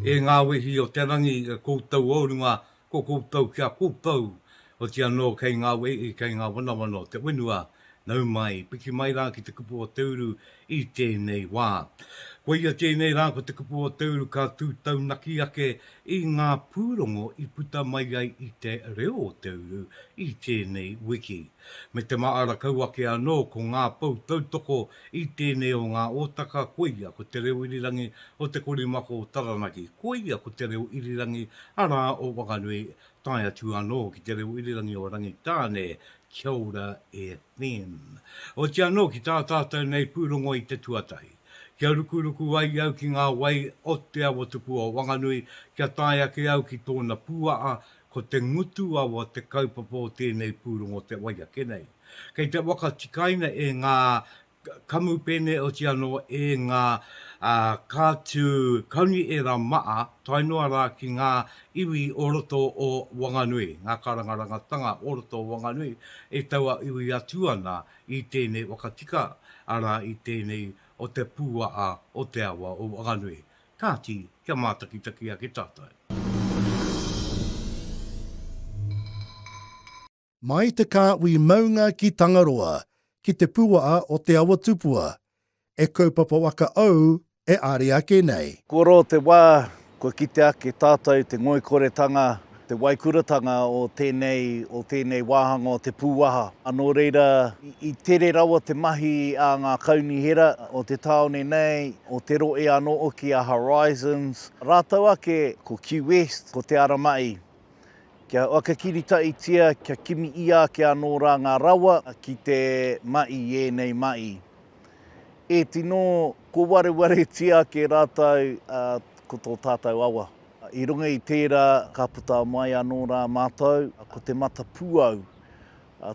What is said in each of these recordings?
E ngā wehi o te rangi e koutou o runga, ko koutou ki a koutou, oti anō kei ngā wehi, kei ngā wanawana o te whenua, nau mai, piki mai rā ki te kupu o te uru i tēnei wā. Koia tēnei rā ko te kupu o te uru ka tū taunaki ake i ngā pūrongo i puta mai ai i te reo o te uru i tēnei wiki. Me te māra kau ake anō ko ngā pou tautoko i tēnei o ngā ōtaka koia ko Te Reo Irirangi o Te Korimako o Taranaki, koia ko Te Reo Irirangi arā o Whanganui tae atu anō ki Te Reo Irirangi o Rangitāne, Kia Ora e Finn. Oti anō ki tā tātou nei pūrongo i te tuatahi. Kia rukuruku ai au ki ngā wai o Te Awatukua o Wanganui kia tae ake au ki tōna pūaha ko te ngutu awa te kaupapa o tēnei pūrongo te wai ake nei. Kei te whakatikaina e ngā kamupene oti anō e ngā kātū kauni ērā maa tae noa rā ki ngā iwi o roto o Wanganui, ngā karangarangatanga o roto o Wanganui e tauawiwi atu ana i tēnei wakatika, arā i tēnei o te pūaa o te awa o Wanganui. Kāti, kia mātakitaki ake tātou. Mai te kāhui maunga ki Tangaroa, ki te puaa o Te Awatupua, e kaupapa waka ou e are ake nei. Kua roa te wā, kua kite ake tātou te ngoikoretanga te waikuratanga o tēnei, o tēnei wāhanga o te pūwaha. Nō reira, i tere rawa te mahi a ngā kaunihera o te tāone nei, o Te Rohe anō hoki, a Horizons, rātou ake ko Q-West, ko Te Ara Ma'i, kia whakakiritaʻitia, kia kimi ʻia ake anō rā ngā rawa ki te maʻi i ēnei maʻi. E tino kōwarewaretia ake rātou ko tō tātou awa. I runga i tērā ka puta mai anō rā mātou ko Te Matapūau.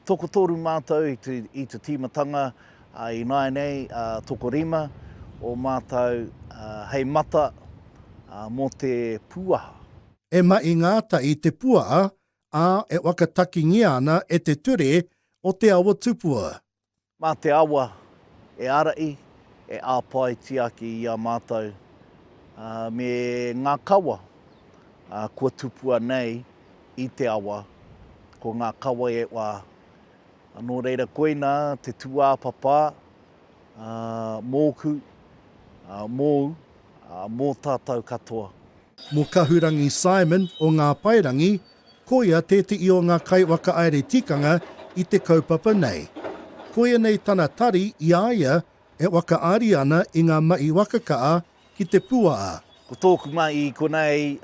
Tokotoru mātou i te tīmatanga, ā, ināianei tokorima o mātou hei mata mō te pūaha. E mahi ngāta i te puaha, ā, e whakatakingia ana e te ture o Te Awatupua. Mā te awa e ara i, e āpae tiaki i a mātou me ngā kawa kua tupua nei i te awa, ko ngā kawa e wā. Nō reira koina te tūāpapa mōku, mōu, mō tātou katoa. Mō Kahurangi Simon o Ngā Paerangi, koia tētehi o ngā kaiwhakaāere tikanga i te kaupapa nei. Koia nei tana tari i a ia e whakaari ana i ngā mahi wakakaa ki te puaa. Ko tōku mahi i konei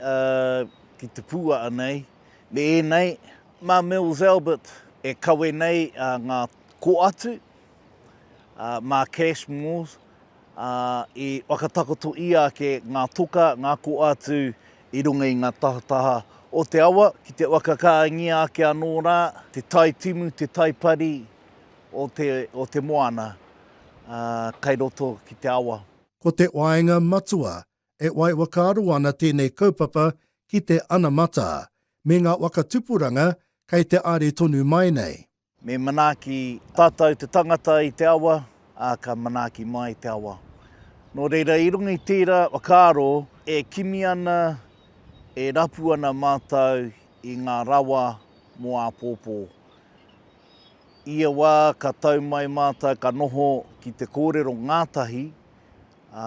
ki te puaa nei, me ēnei, mā Mills Albert e kawe nei ngā koatu, mā Cash Mills, ā, i whakatakoto ia ake ngā toka, ngā koa atu i runga i ngā tahataha o te awa, ki te whakakāngia ake anō rā te tai timu, te tai pari o te, o te moana, ā, kai roto ki te awa. Ko te waenga matua, e wai whakaaro ana tēnei kaupapa ki te anamata, me ngā waka tupuranga kei te are tonu mai nei. Me manaaki tātou te tangata i te awa, ā, ka manaaki mai te awa. Nō reira, i runga i tērā whakaaro, e kimi ana, e rapu ana mātou i ngā rawa mō āpōpō. Ia wā ka tau mai mātou ka noho ki te kōrero ngātahi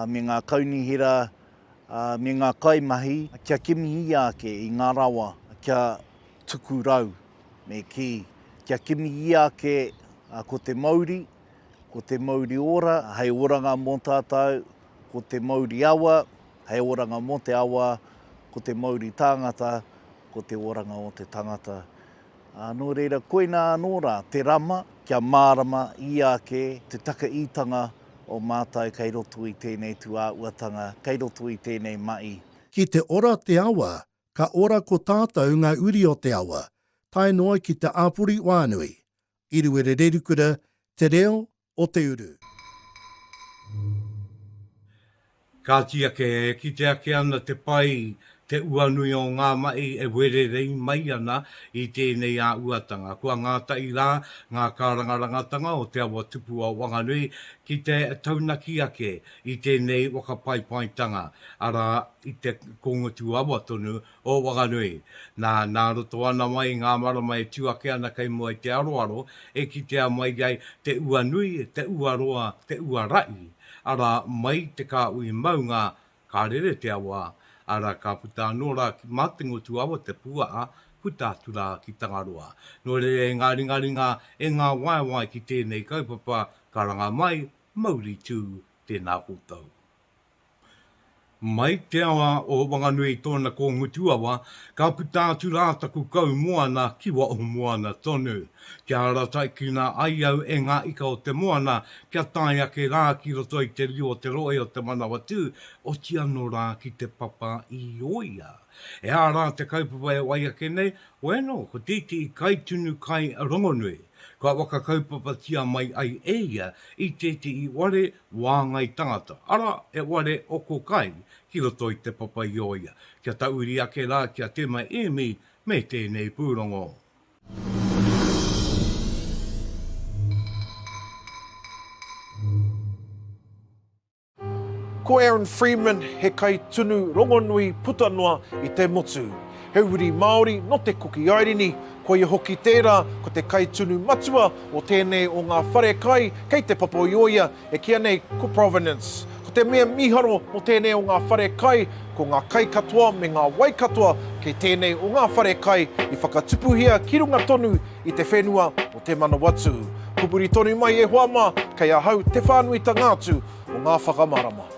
me ngā kaunihera me ngā kaimahi kia kimihia ake i ngā rawa kia tuku rau me kī, kia kimihia ake ko te mauri, ko te mauri ora hei oranga mō tātou, ko te mauri awa hei oranga mō te awa, ko te mauri tāngata ko te oranga o te tangata. Ā, nō reira, koinā anō rā te rama kia mārama i ake te takaitanga o mātou kei roto i tēnei tūāuatanga, kei roto i tēnei maʻi. Ki te ora te awa, ka ora ko tātou ngā uri o te awa, tae noa ki te āpori whānui, Iruerererukuta, Te Reo, o te uru. Kāti ake e kite ake ana te pai, te uanui o ngā mahi e wererei mai ana i tēnei āhuatanga. Kua ngātahi rā ngā kārangarangatanga o Te Awa Tupua Wanganui ki te taunaki ake i tēnei whakapaipaitanga, arā, i te kōngutu awa tonu o Wanganui. Nā, nā roto ana mai i ngā marama e tū ake ana kei mua i te aroaro, e kitea mai ai te ua nui, te ua roa, te ua raʻi, arā, mai te kāhui maunga, ka rere te awa, arā, ka puta anō rā ki Mātengotuawa te puaʻa, puta atu rā ki Tangaroa. Nō reira e ngā ringaringa, e ngā waewae ki tēnei kaupapa, karanga mai, mauri tū, tēnā koutou. Mai te awa o Wanganui tōna ko Ngutuawa, ka puta atu rā taku kaumoana ki Waohumuana tonu. Kia ara taikina ai au e ngā ika o te moana, kia tae ake rā ki roto i te riu o te rohe o Te Manawatū, oti anō rā ki Te Papa i Ōia. E hā rā te kaupapa e wai ake nei, bueno, ko te iti i kai tunu kai rongonui. Kua waka kaupapatia mai ai e ia i te iti i ware wāngai tangata, arā, he ware oko kai ki roto i Te Papa-i-ōia, kia tauiri ake rā ki a Tema Ēmi me tēnei pūrongo. Ko Aaron Freeman he kai tunu rongonui puta noa i te motu. He uri Māori nō Te Kuki Airini, koia hoki tērā ko te kaitunu matua o tēnei o ngā wharekai kei Te Papaioia, e kīa nei ko Provenance. Ko te mea mīharo mō tēnei o ngā wharekai, ko ngā kai katoa me ngā wai katoa kei tēnei o ngā wharekai i whakatupuhia ki runga tonu i te whenua o Te Manawatū. Pupuri tonu mai e hoa mā, kei ahau te whānuitanga atu o ngā whakamārama.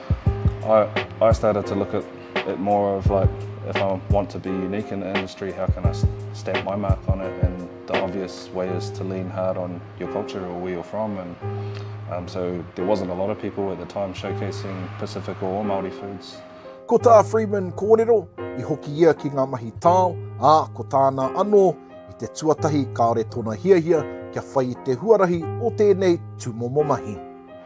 I, I started to look at it more of like, if I want to be unique in the industry, how can I stamp my mark on it? And the obvious way is to lean hard on your culture or where you're from. And um, so there wasn't a lot of people at the time showcasing Pacific or Māori foods. Ko tā Freeman kōrero, i hoki ia ki ngā mahi tao, ā, ko tāna anō, i te tuatahi kāore tōna hiahia kia whai i te huarahi o tēnei tūmomo mahi.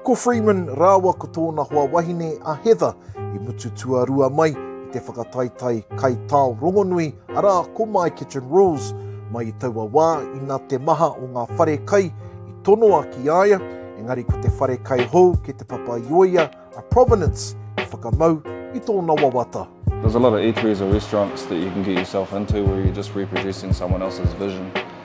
Ko Freeman rāua ko tōna hoa wahine a Heather i mutu tuarua mai i te whakataetae kaitao rongonui, arā, ko My Kitchen Rules. Mai i taua wā, ina te maha o ngā whare kai i tonoa ki a ia, engari ko te whare kai hou ki Te Papaioea a Provenance i whakamau i tōna wawata. There's a lot of eateries or restaurants that you can get yourself into where you're just reproducing someone else's vision.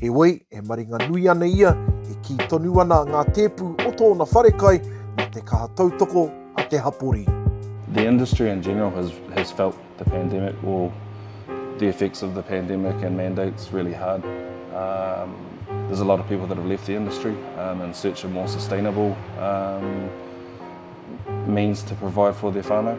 Heoi, e maringa nui ana ia, e kī tonu ana ngā tēpu o tōna wharekai mā te kaha tautoko a te hapori. The industry in general has, has felt the pandemic or the effects of the pandemic and mandates really hard. Um, there's a lot of people that have left the industry um, in search of more sustainable um, means to provide for their whānau.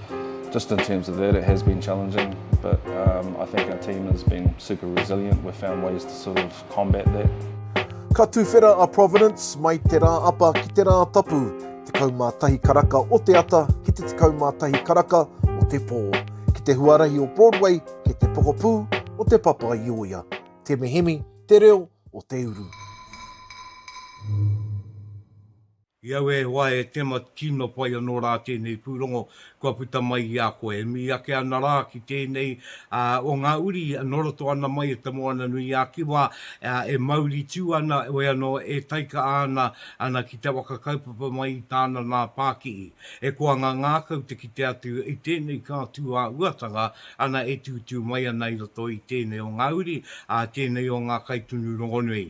Just in terms of that it has been challenging but I think our team has been super resilient, we've found ways to sort of combat that. Ka tuwhera a Providence mai te rā apa ki te rā tapu, 11 karaka o te ata ki te 11 karaka o te pō, ki te huarahi o Broadway kei te pokapū o Te Papaioia. Temehemi te reo o te uru. I aua e hoa e Tema tino pai anō rā tēnei pūrongo kua puta mai i a koe. E mii ake ana rā ki tēnei o ngā uri e noroto ana mai e Te Moana-nui-ā-Kiwa, e mauri tū ana, e anō e taika ana ana ki te waka kaupapa mai i tāna nā Pākihi. E koa ngā ngākau te kite atu i tēnei kā tūāhuatanga ana e tūtū mai ana i roto i tēnei o ngā uri, ā, tēnei o ngā kaitunu rongonui.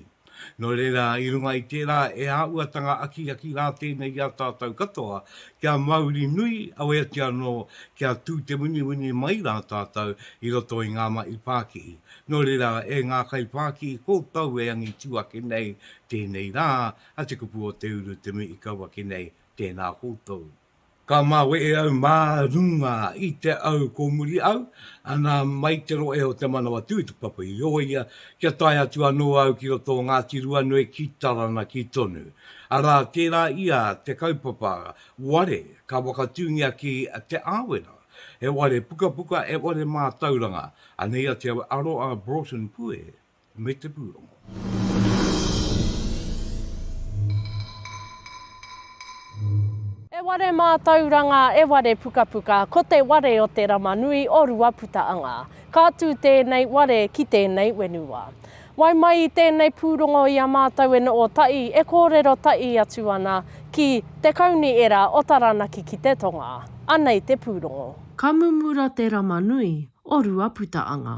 Nō reira, i runga i tērā e āhuatanga akiaki rā tēnei i a tātou katoa, kia mauri nui aweatia anō kia tū te winiwini mai rā tātou i roto i ngā mahi pākihi. Nō reira, e ngā kaipākihi kōtou e angitu ake nei tēnei rā, a Te Kupu o Te Uru te mea i kau ake nei, tēnā koutou. Ka mawehe au mā runga i te au kōmuri au, ana mai te rohe o Te Manawatū i te papa i o ia, kia tae atu anō au ki roto o Ngāti Ruanui ki Taranaki tonu. Arā tērā ia te kaupapa ware ka whakatūngia ki Te Āwera, he ware pukapuka, he ware mātauranga, anei atu au e aro a Broughton Pue. me te pūrongo. E ware mātauranga, e ware pukapuka, ko te ware o te rama nui o Ruaputaanga. Ka tū tēnei ware ki tēnei wenua. Wai mai i tēnei pūrongo i a mātou e noo taʻi, e kōrero taʻi atu ana ki Te Kauni Era o Taranaki ki te tonga. Anei te pūrongo. Ka mumura te rama nui o Ruaputaanga.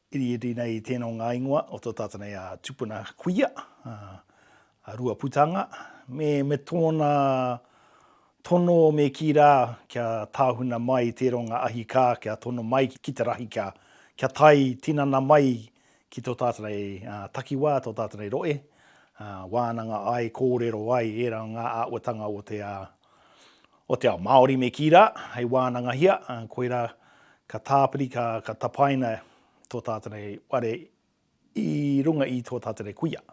Iriiri nei i tēnō ngā ingoa o tō tātou nei a Tupuna Kuia, a Ruaputanga, me, me tōna tono me kī rā kia tāhuna mai tēronga ahi kā kia tono mai ki te rahi kia, kia tae tinana mai ki tō tātou nei takiwā, tō tātou nei roe, wānanga ai, kōrero ai ērā o ngā āhuatanga o te. o te ao Māori me kī rā, hei wānangahia, koirā ka tāpiri, ka, ka tapaina tō tātou nei ware i runga i tō tātou nei kuia.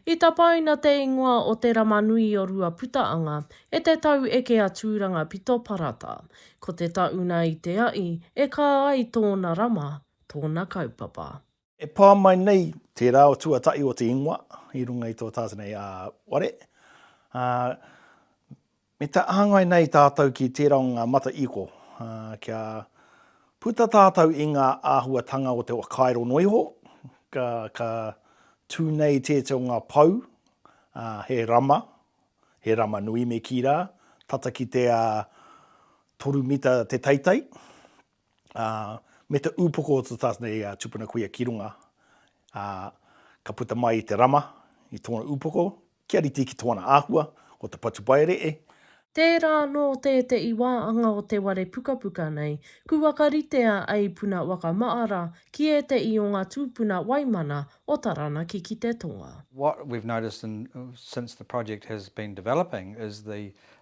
I tapaina te ingoa o Te Ramanui o Ruaputaanga e te tau eke a Tūranga Pito Parata. Ko te tauna i te aʻi e kā ai tōna rama, tōna kaupapa. E pā mai nei te reo tuatahi o te ingoa i runga i tō tātou nei ware, ā, me te āngai nei tātou ki tērā o ngā mata iko, ā, kia puta tātou i ngā āhuatanga o te whakairo noa iho, ka, ka tū nei tētahi o ngā pou, ā, he rama, he rama nui me kī rā, tata ki te, ā, toru mita te teitei, ā, me te ūpoko o te tātana i a Tupuna Kuia ki runga, ā, ka puta mai i te rama i tōna ūpoko, kia rite ki tōna āhua, ko te patupaere'e, Tērā anō tēteʻi wā anga o te ware pukapuka nei, ku whakaritea ei puna whakamaʻara ki ēteʻi o ngā tūpuna waimana o Taranaki ki te tonga. What we've noticed in, since the project has been developing is the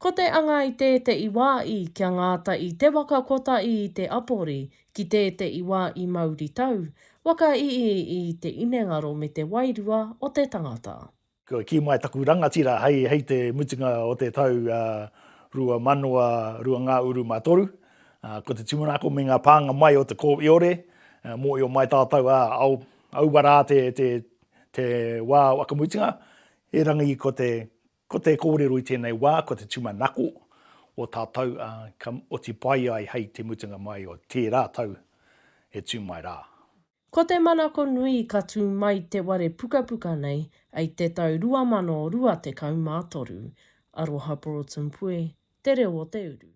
Ko te anga i tēteʻi wā i kia ngāta i te waka kotaʻi i te apori, ki tēteʻi wā i mauritau, waka ii i te inengaro me te wairua o te tangata. Kua kī mai taku rangatira hei hei te mutunga o te tau 2002 ngā uru mā toru, ko te tūmanako me ngā pānga mai o te kōiore, mōio mai tātou ā, aua rā te te te wā whakamutunga, erangi ko te Ko te kōrero i tēnei wā ko te tūmanako o tātou ka oti pai ai hei te mutunga mai o tērā tau e tū mai rā. Ko te manako nui ka tū mai te ware pukapuka nei ai te tau 2023. Aroha Broughton Puehe. Te Reo o te Uru.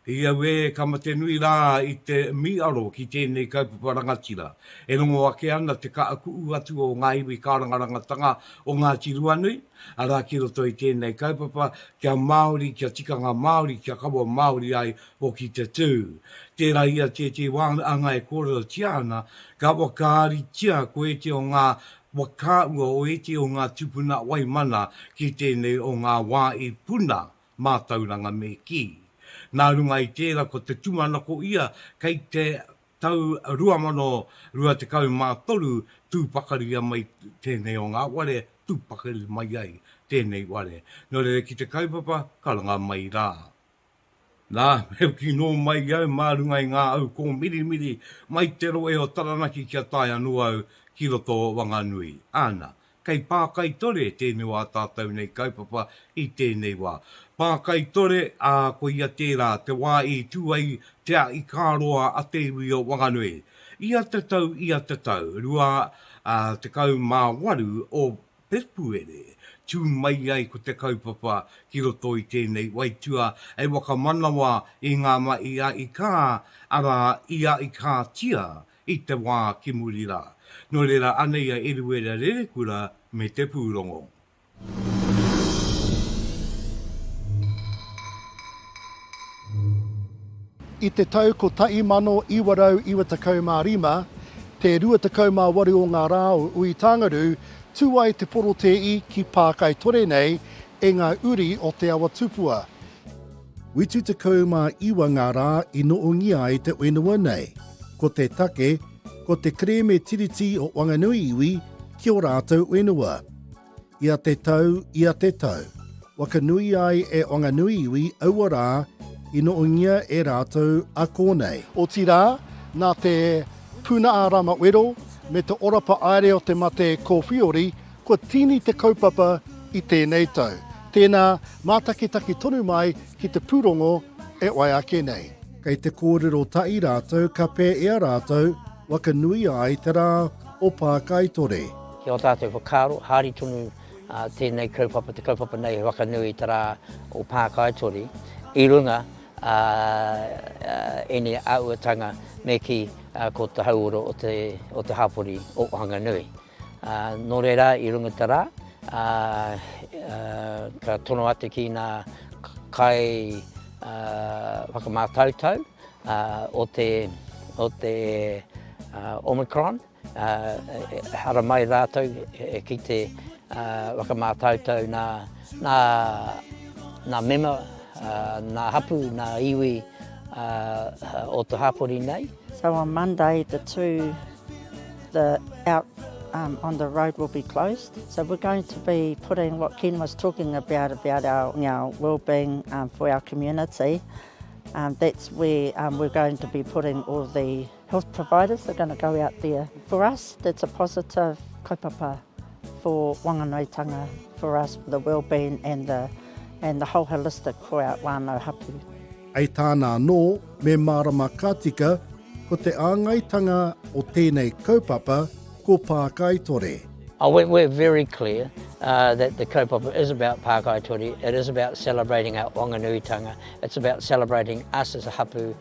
I aue ka mate nui ra i te miiaro ki teenei kaupapa rangatira. E rongo ake ana te kaakuu atu o nga iwi kaarangarangatanga o Ngaati Ruanui, ara ki roto i teenei kaupapa kia Maaori, kia tikanga Maaori, kia kawa Maaori ai hoki te tuu. Teera ia teetee waanga e koorerotia ana, ka wakaaritia koete o nga Mo kā ua oiti o ngā tupuna wai mana ki tēnei o ngā wā i puna mātauranga me kī. Nā runga i tēra ko te tumanako ia kei te tau 2023 tū pakaria mai tēnei o ngā ware tū pakari mai ai tēnei ware. Nō reira ki te kaupapa karanga mai rā. Nā, heu kino mai au mā runga i ngā au kōmirimiri mai te rohe o Taranaki kia tae anō au ki roto o Wanganui. Āna, kei Pākaitore tēnei o ā tātou nei kaupapa i tēnei wā. Pākaitore, ā, koia tērā te wā i tū ai te aʻi-kā-roa a te iwi o Wanganui. Ia te tau, ia te tau, rua, ā, tekau mā waru o Pepuere, tū mai ai ko te kaupapa ki roto i tēnei waitua hei whakamanawa i ngā mahi a Ikā, arā, i a Ikātia i te wā ki muri rā. Nō reira, anei a Eruera Rerekura me te pūrongo. I te tau 1995, te 28 o ngā rā o Uitāngarū Tū ai te porotēi ki Pākaitore nei e ngā uri o Te Awa Tupua. Whitu 19 ngā rā i noongia ai te whenua nei. Ko te take, ko te kerēme Tiriti o Wanganui iwi ki o rātou whenua. Ia te tau, ia te tau. Waka nui ai e Wanganui iwi aua rā i noongia e rātou a kōnei. Otirā, nā te Puna a Rama Wero me te orapa aere o te mate kōwhiori, kua tīni te kaupapa i tēnei tau. Tēnā, mātakitaki tonu mai ki te pūrongo e wai ake nei. Kei te kōrero tahi rātou ka pēea rātou waka nui ai te rā o Pākaitore. Ki ō tātou whakaaro, haere tonu tēnei kaupapa, te kaupapa nei he waka nui i te rā o Pākaitore i runga a ēnei āhuatanga me kī, ko te hauora o te hapori o Whanganui. Nō reira, i runga i te rā, ka tono atu ki ngā kai whakamātautau o te Omicron, Ehara mai rātou ki te whakamātautau nā mema, nā hapū, nā iwi o te hapori nei. So on Monday the two the out on the road will be closed so we're going to be putting what Ken was talking about about our wellbeing for our community that's where we're going to be putting all the Health providers are going to go out there. For us that's a positive kaupapa for wanganaetanga, for us for the wellbeing and the and the whole holistic for our whānau hapu. Hei tāna anō, me mārama ka tika, ko te āngaitanga o tēnei kaupapa ko Pākaitore. Oh, we're, we're very clear uh, that the kaupapa is about Pākaitore, it is about celebrating our Wanganuitanga, it's about celebrating us as a hapu,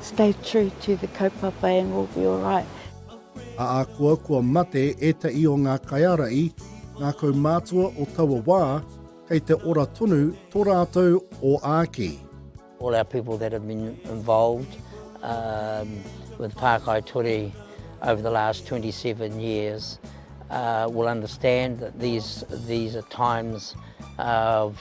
Stay true to the kaupapa and we'll be alright. Ahakoa kua mate ētahi o ngā kaiārahi, ngā kaumātua o taua wā, kei te ora tonu tō rātou oāki. All our people that have been involved with Pākai Ture over the last 27 years will understand that these are times of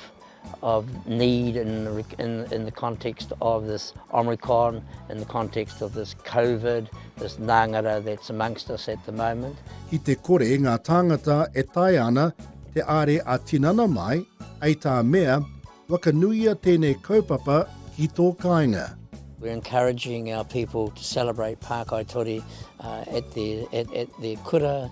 of need in the, in, in the context of this Omicron, in the context of this COVID, this nangara that's amongst us at the moment. Ki te kore ngā tāngata e taea ana te are a tinana mai, hei tā mea, wakanuia tēnei kaupapa ki tō kāinga. We're encouraging our people to celebrate Pākaitori uh, at, their, at, at their kura,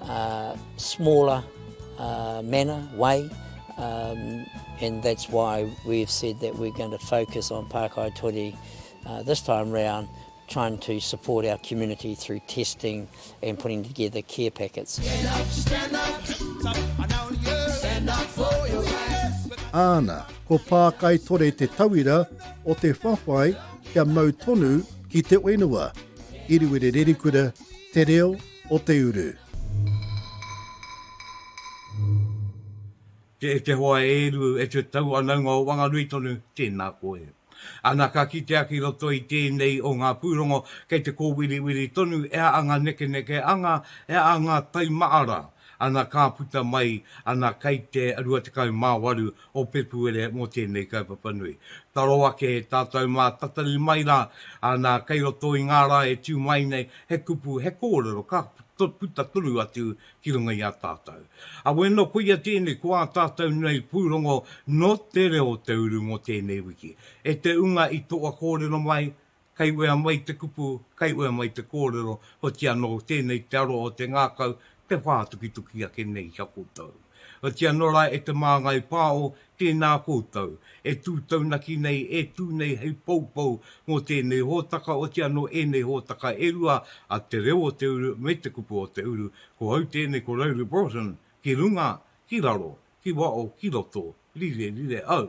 Uh, smaller uh, manner, way, um, and that's why we've said that we're going to focus on Pākai Tori uh, this time round, trying to support our community through testing and putting together care packets. Stand up, stand up, stand up for your rights. Āna, ko Pākai Tori te tauira o te whawhai kia mau tonu ki te whenua. Iriwere Rerikura, Te Reo, o te uru. Te Etehoa e Eru, e te Tauanaunga o Wanganui tonu, tēnā koe. Ana ka kitea ki roto i tēnei o ngā pūrongo, kei te kōwiriwiri tonu e a ngā nekeneke anga, e a ngā taimaara, ana ka puta mai, ana kei te 28 o Pepuere mō tēnei kaupapa nui. Taro ake tātou mā tatari mai rā, nā, kei roto i ngā rā e tū mai nei, he kupu, he kōrero ka puta tonu atu ki runga i a tātou. A wēnā koia tēnei ko ā tātou nei pūrongo nō te reo o te uru mō tēnei wiki, e te unga i toa kōrero mai, Kei wea mai te kupu, kei wea mai te kōrero, hoti anō tēnei te aroha o te ngākau, te whā tukituki ake nei ki a koutou. Hoti anō rā e te māngai pāo, tēnā koutou, e tū taunaki nei, e tū nei hei poupou mō tēnei hōtaka, oti anō ēnei hōtaka e rua a Te Reo o te Uru me Te Kupu o te Uru, ko au tēnei ko Rowley Broughton, ki runga, ki raro, ki wao, ki roto, rire, rire au.